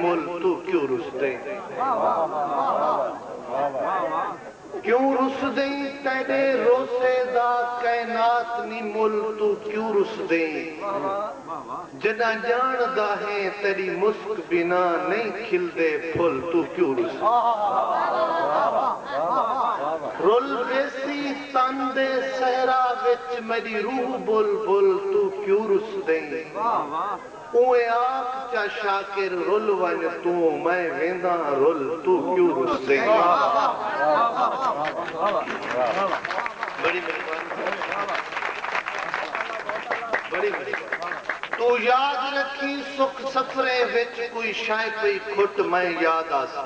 مل تو کیوں رس دیں کیوں رس دیں تیڈے روسے دا کائنات نی مل تو کیوں رس دیں جݙاں ڄاݨدا ہیں تیݙی مسک بنا نئیں کھلدے پھل توں کیوں رسیں۔ رل ویسی تن دے صحرا وچ میݙی روح بلبل توں کیوں رسدیں۔ اونویں آکھ چا شاکر رل ونڄ توں میں وینداں رل توں کیوں رسدیں۔ بڑی مہربانی ساڈی۔ توں یاد رکھیں سکھ سفریں وچ کوئی شئے پئی کھٹ میں یاد آساں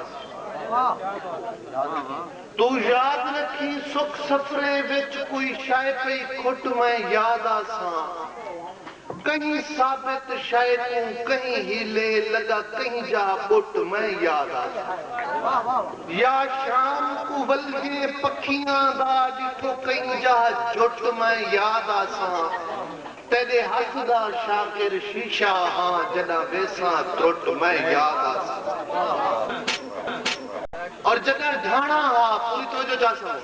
توں یاد رکھیں سکھ سفریں وچ کوئی شئے پئی کھٹ میں یاد آساں کہیں ثابت شئے کوں کہیں ہیلے لگا کہیں جاہ ٻٹ میں یاد آساں۔ یا شام کوں ولھے پکھیاں دا ݙٹھو کئیں جا جھٹ میں یاد آساں تیݙے ہتھ دا شاکر شیشہ ہاں جݙاں ویساں ترٹ میں یاد آساں۔ اور جݙاں ڈھاݨا ہا پوری توجہ چا ساں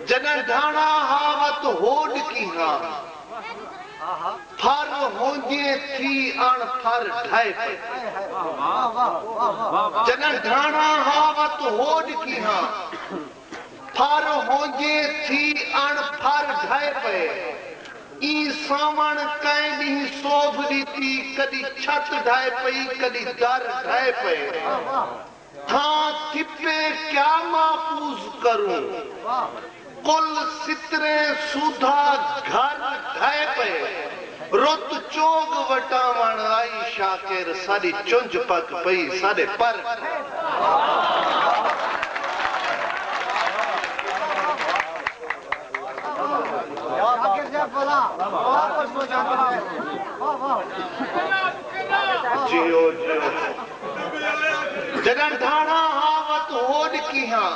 جݙاں ڈھاݨا ہا وت ہوݙ کیہاں۔ پھر ہوندیں تھی اݨ پھر ڈھائے پئے۔ جݙاں ڈھاݨا ہا وت ہوݙ کی ہاں۔ پھر ہوندیں تھی اݨ پھر ڈھائے پئے۔ ایں ساوݨ کئیں ݙینہہ سوبھ ݙتی کݙی چھت ڈھائے پئی کݙی در ڈھائے پئے۔ تھاں کپے کیا محفوظ کروں۔ کل ستریں سودھا گھر ڈھہے پئے۔ رت چوگ وٹاوݨ آئی شاکر ساݙی چنج پک پئی ساݙے پر ڈھہے۔ جݙݨ دھاݨا ہاں وت ہوݙ کیہاں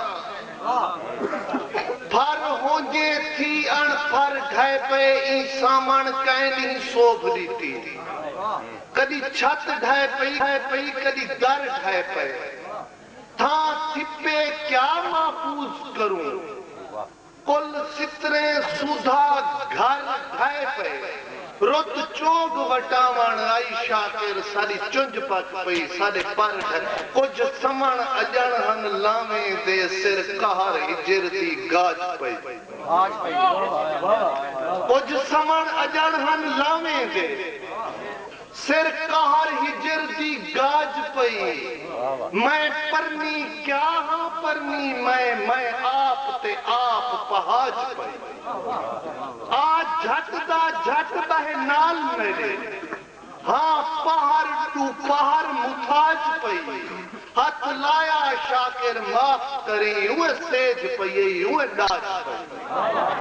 پھر ہونجے تھی اݨ پھر ڈھئے پئے ایں سامݨ کئیں ݙینہہ سوبھ ݙیتی کݙی چھت ڈھئے پئی کݙی در ڈھئے پئے تھاں تھپے کیا محفوظ کروں کل ستریں سودھا گھر ڈھائے پئے رت چوگ وٹاوݨ آئی شاکر ساݙی چنج پک پئی ساݙے پر ڈھے کجھ سمݨ اڄݨ ہن لانویں دے سر قہر ہجر دی گاج پئی کجھ سمݨ اڄݨ ہن لانویں دے۔ سر قہر ہجر دی گاج پئی اے۔ میں پرنی کیا ہاں پرنی میں میں آپ تے آپ پہاج پئی اے۔ آ جھٹ دا جھٹ بہہ نال میڈے ہاں پہر ٹو پہر متھاج پئی اے۔ ہتھ لایا شاکر معاف کریں اوہ سیج پئی اے اوہ ڈاج پئی اے۔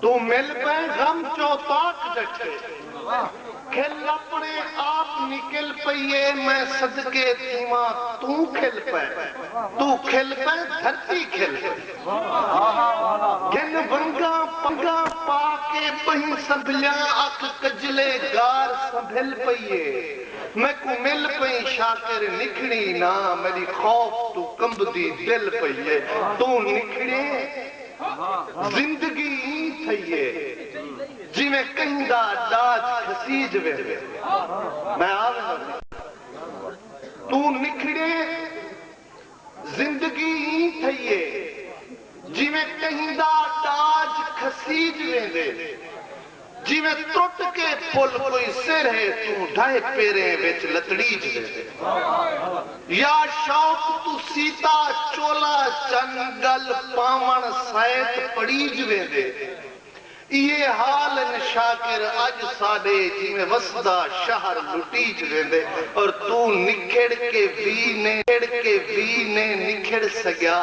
توں مل پئیں غم چوطاق ڈٹھے۔ کھل اپنے آپ نکل پئی اے میں صدقے تھیواں توں کھل پئے توں کھل پئے دھرتی کھل پئی گھن ونگاں پنگاں پا کے بہیں سنبھلیاں اکھ کجلے گار سنبھل پئی اے میکوں مل پئیں شاکر نکھڑیں نہ میڈی خوف توں کمبدی دل پئی اے توں نکھڑیں زندگی ایں تھئی اے جیویں کہیں دا ڈاج گھسیج ویندے۔ میں آ وینداں سئیں توں نکھڑیں زندگی ایں تھئی اے جیویں کہیں دا ڈاج گھسیج ویندے۔ جیویں ترٹ کے پھل کوئی سر ہے توں ڈھاہ پیریں وچ لتڑیج ویندے۔ یا شوق توں سیتا چولا چن گل پاوݨ سائت پڑیج ویندے۔ ایہے حال ان شاکر اڄ ساݙے جیویں وسدا شہر لٹیج ویندے اور توں نکھڑ کے وی نیں نکھڑ سڳیا۔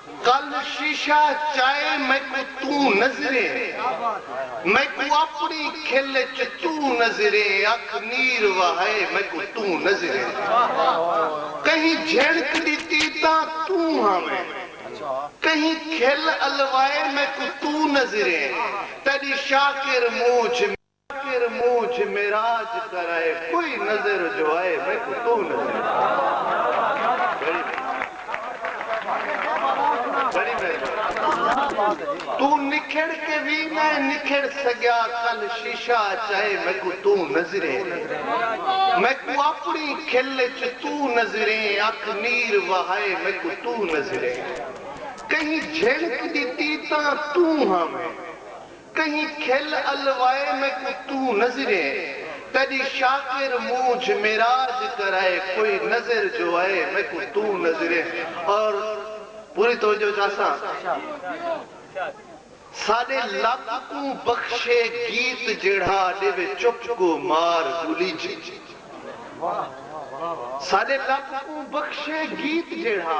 کل شیشہ چائے میکوں توں نظریں میکوں اپنی کھل اچ توں نظریں اکھ نیر وہائے میکوں توں نظریں کہیں جھنڑک ڈتی تاں توں ہاویں کہیں کھل الوائے میکوں توں نظریں تیڈی شاکر مونجھ فقیر موجھ معراج کرائے کوئی نظر جو آئے میکوں توں نظر بڑی مہربانی بڑی مہربانی توں نکھڑ کے وی نہ نکھڑ سگیا کل شیشہ اچ آئے میکوں توں نظریں میکوں اپنی کھل اچ توں نظریں اکھ نیر وہائے میکوں توں نظریں کہیں جھنک ڈتی تاں توں ہاویں۔ کہیں کھل الوائے میکوں توں نظریں تیڈی شاکر مونجھ معراج کرائے کوئی نظر جو ائے میکوں توں نظریں اور پوری توجہ چاساں ساڈے لب کوں بخشے گیت جیڑھا ڈیوے چپ کوں مار گولی جی ساڈے لب کوں بخشے گیت جیڑھا۔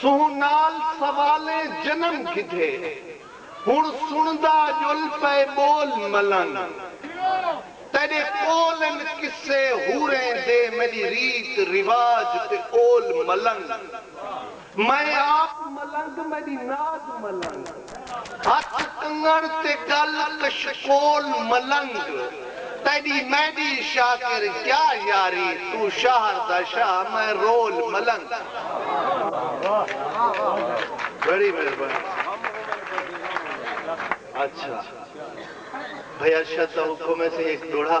سونہہ نال سوالیں جنم گھدھے۔ ہݨ سݨدا ڄل پئے ٻول ملن۔ تیݙے قول ان قصے حوریں دے میݙی ریت رواج تے اول ملن۔ میں آپ ملنگ میݙی ناز ملن۔ ہتھ کنگن تے گل کشکول ملنگ تیڈی میڈی شاکر کیا یاری تو شاہر دا شاہ میں رول ملنگ۔ بڑی مہربانی اچھا بھئی ارشد دا حکم ہے سی ہک دوڑھا۔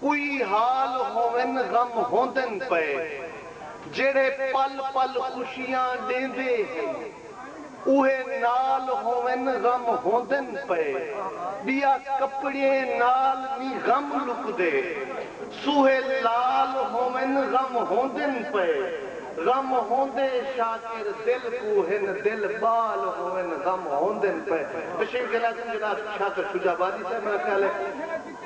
کوئی حال ہوون غم ہوندن پئے جیڑھے پل پل خوشیاں ݙیندے ہن اوہے نال ہوون غم ہوندن پئے ٻیا کپڑے نال نی غم لکدے سوہے لال ہوون غم ہوندن پئے غم ہوندے شاکر دل کوں ہن دل ٻال ہوون غم ہوندن پئے تشریف لے جاؤ جناب شاکر شجاع آبادی صاحب میرا خیال ہے۔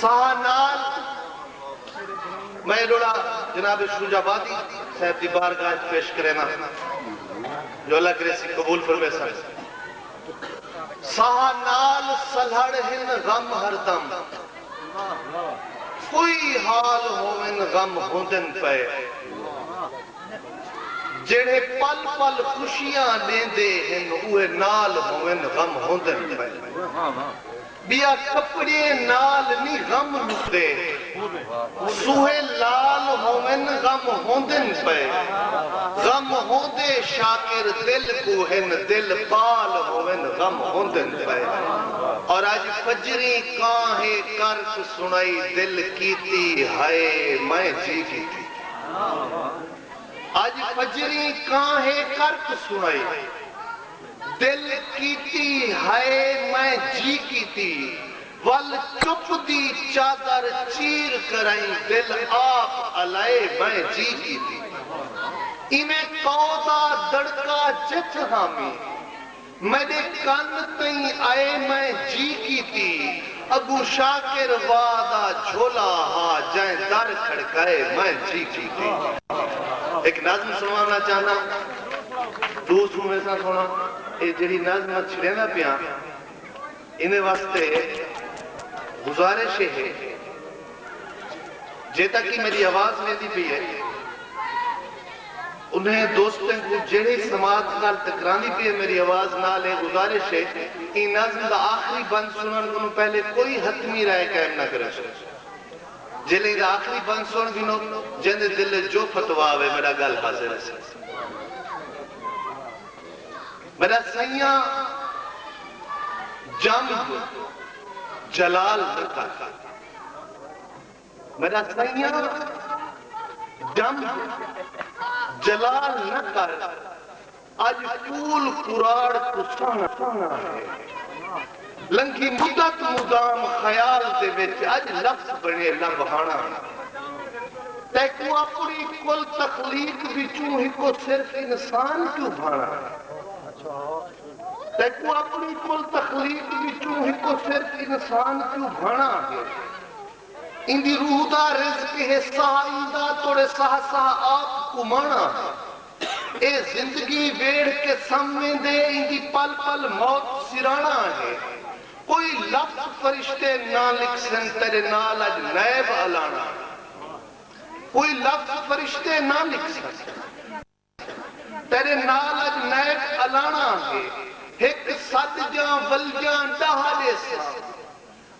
ساہ نال میں لوڑا جناب شجاع آبادی صاحب دی بارگاہ اچ پیش کرینا جو اللہ کرے اسی قبول فرمیسن۔ ساہ نال سلہڑ ہن غم ہر دم کوئی حال ہوون غم ہوندن پئے جیڑھے پل پل خوشیاں ڈیندے ہن اوہے نال ہوون غم ہوندن پئے۔ ٻیا کپڑیے نال نی غم لکدے سوہے لال ہوون غم ہوندن پئے غم ہوندے شاکر دل کوں ہن دل پال ہوون غم ہوندن پئے اور اج فجریں کاں ہے کرک سنائی دل کیتی ہائے میں جی کیتی اج فجریں کاں ہے کرک سنائی۔ دل کیتی ہئے میں جی کیتی ول چپ دی چادر چیر کرئیں دل آپ الائے میں جی کیتی ایویں کئو دا دڑکا جتھ ہامی میڈے کن تئیں ائے میں جی کیتی اگوں شاکر وا دا جھولا ہا جئیں در کھڑکائے میں جی کیتی۔ ہک نظم سنوانا چاہنا۔ دوست کوں ویساں سونا اے جیڑھی نظم میں چھڑیندا پیاں ایندے واسطے گزارش اے ہے جے تاں کی میڈی آواز ویندی پئی اے انہیں دوستیں کوں جیڑھی سماعت نال ٹکراندی پئی اے میڈی آواز نال اے گزارش اے ایں نظم دا آخری بند سنن کنوں پہلے کوئی حتمی رائے قائم نہ کریسوں۔ جیلھے ایندا آخری بند سݨ گھنو جیندے دل اچ جو فتوا وے وݙا ڳالھ حاضر ہسی۔ وݙا سئیاں جم جلال نہ کر وݙا سئیاں جم جلال نہ کر۔ اج کول کراڑ کوں سہݨا سہݨا ہے۔ لنگھی مدت مدام خیال دے وچ اج لفظ بݨے لب ہاݨا ہے۔ تیکوں اپݨی کل تخلیق وچوں ہکو صرف انسان کیوں بھاݨا ہے۔ تیکوں اپݨی کل تخلیق وچوں ہکو صرف انسان کیوں بھاݨا ہے۔ ایندی روح دا رزق ہے ساہ ایندا توڑے ساہ ساہ آپ کماݨا ہے۔ اے زندگی ویڑھ کے سم ویندے ایندی پل پل موت سراݨا ہے کوئی لفظ فرشتے نہ لکھسن تیݙے نال اڄ نیب الاݨا کوئی لفظ فرشتے نہ لکھسن تیݙے نال اڄ نیب الاݨا ہے ہک سد جاں ولجاں ݙاہ ݙیساں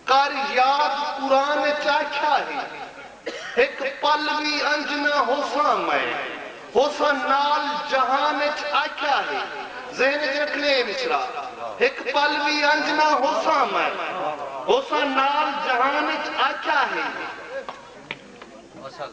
کر یاد قرآن اچ آکھیا ہے ہک پل وی انج نہ ہوساں میں ہوساں نال جہان اچ آکھیا ہے ذہن اچ رکھنے اے مصرع ہک پل وی انج نہ ہوساں میں ہوساں نال جہان اچ آکھیا ہے۔